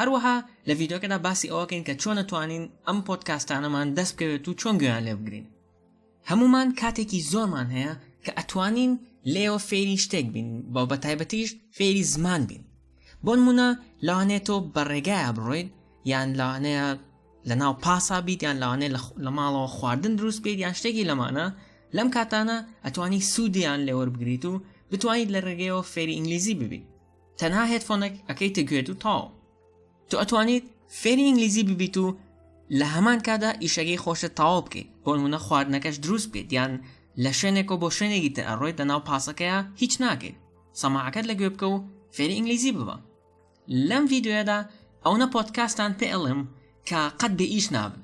هەروەها لە ڤیددیوکەدا باسی ئەوەکەین کە چۆنە توانین ئەم پۆتکاستانەمان دەست بکەوێت و چۆن گویان لێ بگرین هەمومان کاتێکی زۆرمان هەیە کە ئەتوانین لێەوە فێری شتێک بین بە بە تایبەتیش فێری زمان بین بۆ نمونە لەوانێت تۆ بە ڕێگایە بڕۆیت یان لەوانەیە لە ناو پاسا بیت یان لەوانێت لە ماڵەوە خواردن دروست بێت یان شتێکی لەمانە لەم کاتانە ئەتوانی سوودیان لێوەربگریت و بتوانیت لە ڕێگەیەوە فێری ئینگلیزی ببیت تەنها هێدفۆنێک ئەکەیتە گوێت و تاو تو ئەتوانیت فێری ئینگلیزی ببیت و لە هەمان کادا ئیشەکەی خۆشت تاوا بکەیت بۆنمونە خواردنەکەش دروست بکەیت یان لە شوێنێکۆ بۆ شوێنێکی تر ئەڕۆیت لە ناو پاسەکەیە هیچ ناکەیت سەماعەکەت لە گوێ بکە و فێری ئینگلیزی ببە لەم ڤیددیوەدا ئەوە پۆتکاستان پێڵم کە قەت بێ ئیش نابن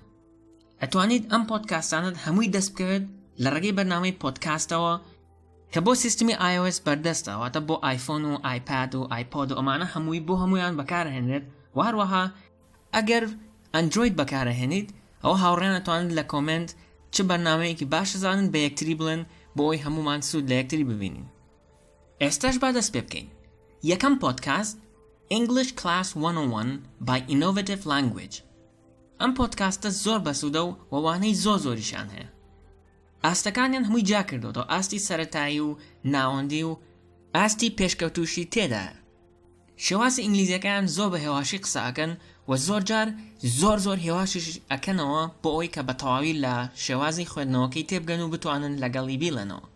ئەتوانیت ئەم پۆتکاستانت هەمووی دەست بکەوێت لە ڕێگەی بەرنامەی پۆتکاستەوە کە بۆ سیستمی iOS بەردەستە واتە بۆ آیفۆن و آیپاد و آیپۆد و ئەمانە هەمووی بۆ هەمویان بەکارهێنرێت و هەروەها ئەگەر ئەندروید بەکارهێنیت ئەوە هاوڕێیان ئەتوانن لە کۆمێنت چ بەرنامەیەکی باش زانن بە یەکتری بڵێن بۆ ئەوی هەمومان سوود لە یەکتری ببینین ئێستاش با دەست پێ بکەین یەکەم پۆدکاست English Class 101 by Innovative Language ئەم پۆدکاستە زۆر بەسوودە و وەوانەی زۆر زۆریشیان هەیە ئاستەکانیان هەمووی جیا کردوەوە ئاستی سەتایی و ناوەندی و ئاستی پێشکەوتوشی تێدا شێوازی ئینگلیزیەکان زۆر بە هێواشی قسەکەن و زۆر جار زۆر زۆر هێواشیش ئەکەنەوە بۆ ئەوی کە بە تەواوی لە شێوازی خوێندنەوەکەی تێبگەن و بتوانن لەگەڵی بیڵێنەوە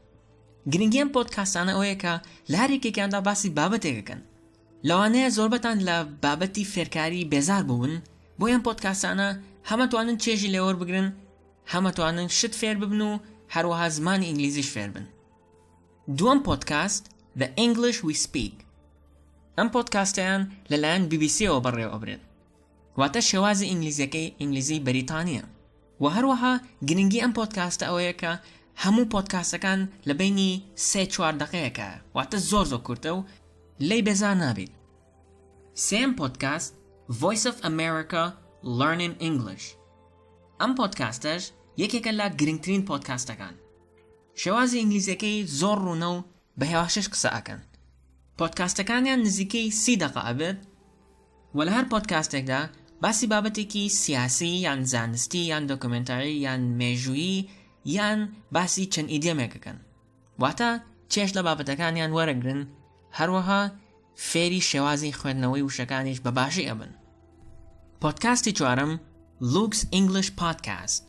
گرنگیان پۆتکاسانە ئەوەیە کە لە هەرێکێکیاندا باسی بابەتێکەکەن لەوانەیە زۆربەتان لە بابەتی فێرکاری بێزار بوون بۆیان پۆتکاسانە هەمەتوانن چێژی لێوەربگرن هەم ئەتوانن شت فێر ببن و هەروەها زمانی ئینگلیزیش فێر بن. دووەم پۆدکاست The English We Speak ئەم پۆدکاستەیان لەلایەن بی بی سیەوە بەڕێوە ئەبرێت واتە شێوازی ئینگلیزیەکەی ئینگلیزی بەریتانیە و هەروەها گرنگی ئەم پۆدکاستە ئەوەیە کە هەموو پۆدکاستەکان لە بینی سێ چوار دقەیەکە واتە زۆر زۆر کورتە و لەی بێزار نابیت سێم پۆدکاست Voice of America Learning English ئەم پۆدکاستەش یەکێکە لە گرنگترین پۆدکاستەکان شێوازی ئینگلیزیەکەی زۆر ڕوونە و بە هێواشش قسە ئەکەن پۆدکاستەکانیان نزیکەی سی دەقە ئەبێت و لە هەر پۆدکاستێکدا باسی بابەتێکی سیاسی یان زانستی یان دۆکمنتاری یان مێژوویی یان باسی چەند ئیدێمێکەکەن واتە چێژ لە بابەتەکانیان وەرەگرن، هەروەها فێری شێوازی خوێندنەوەی وشەکانیش بە باشی ئەبن. پۆدکاستی چوارەم لوکس ئینگلیش پادکاست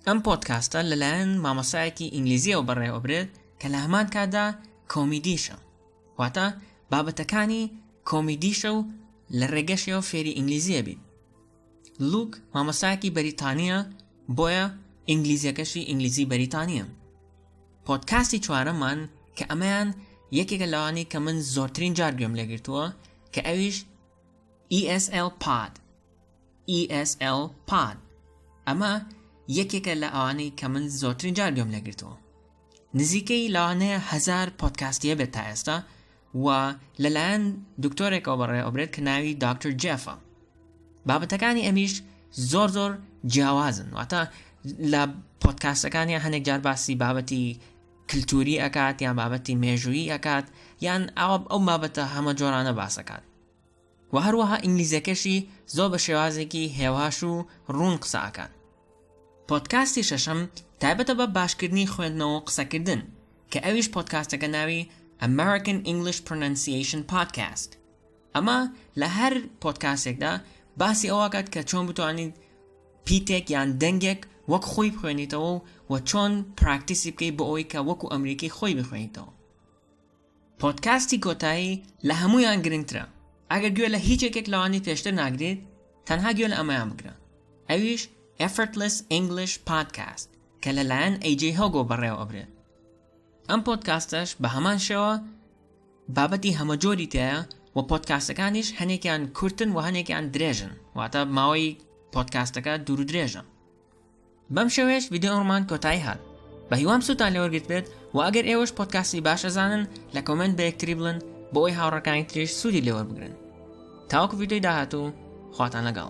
ئەم پۆدکاستە لەلایەن مامۆسایەکی ئینگلیزیەوە بەڕێوەبرێت کە لە هەمان کاتدا کۆمیدیشە واتە بابەتەکانی کۆمیدیشە و لە ڕێگەشەوە فێری ئینگلیزیە بین لوک مامۆستایەکی بەریتانییە بۆیە ئینگلیزیەکەشی ئینگلیزی بەریتانییە پۆدکاستی چوارەمان کە ئەمەیان یەکێکە لەوانی کە من زۆرترین جار گوێم لێگرتووە کە ئەویش ESL پاد ESL پاد ئەمە یەکێکە لە ئەوانەی کە من زۆرترین جار گوێم لێگرتووە نزیکەی لەوانەیە هەزار پۆدکاستی هەبێت تا ئێستا و لەلایەن دکتۆرێکەوە بەڕێ ئەوبرێت کە ناوی دکتۆر جێفە بابەتەکانی ئەمیش زۆر زۆر جیاوازن واتە لە پۆدکاستەکانی هەندێک جار باسی بابەتی کللتوری ئەکات یان بابەتی مێژوویی ئەکات یان ئاوە ئەو بابەتە هەمە جۆرانە باسەکات وە هەروەها ئینگلیزەکەشی زۆر بە شێوازێکی هێواش و ڕوون قسە ئەکات پۆدکاستی شەشەم تایبەتە بە باشکردنی خوێندنەوە و قسەکردن کە ئەویش پۆدکاستەکە ناوی American English Pronunciation Podcast ئەمە لە هەر پۆدکاستێکدا باسی ئەوەکات کە چۆن بتوانیت پیتێک یان دەنگێک وەک خۆی بخوێنیتەوە و چۆن پراکتیسی بکەیت بۆ ئەوەی کە وەکو ئەمریکی خۆی بخوێنیتەوە پۆدکاستی کۆتایی لە هەموویان گرنگترە ئەگەر گوێ لە هیچ یەکێک لەوانی پێشتر ناگریت تەنها گوێ لە ئەمەیان بگرە ئەویش Effortless English Podcast کە لەلایەن AJ Hogo بەڕێوە ئەبرێت ئەم پۆدکاستەش بە هەمان شێوە بابەتی هەمەجۆری تایە و پۆدکاستەکانیش هەنێکیان کورتن و هەنێکیان درێژن واتە ماوەی پۆدکاستەکە دوور درێژە بەم شێوەیەش ڤیدیۆڕمان کۆتایی هات بەهیوام سووتان لەوەرگرت بێت و ئەگەر ئێوەش پۆتکاسی باش ئەزانن لە کۆمنت بە یەکتری بڵن بۆ ئەوی هاوڕەکانی تریش سوودی لێوەربگرن تاوەکو ڤیدیۆی داهاتوو خواتان لەگەڵ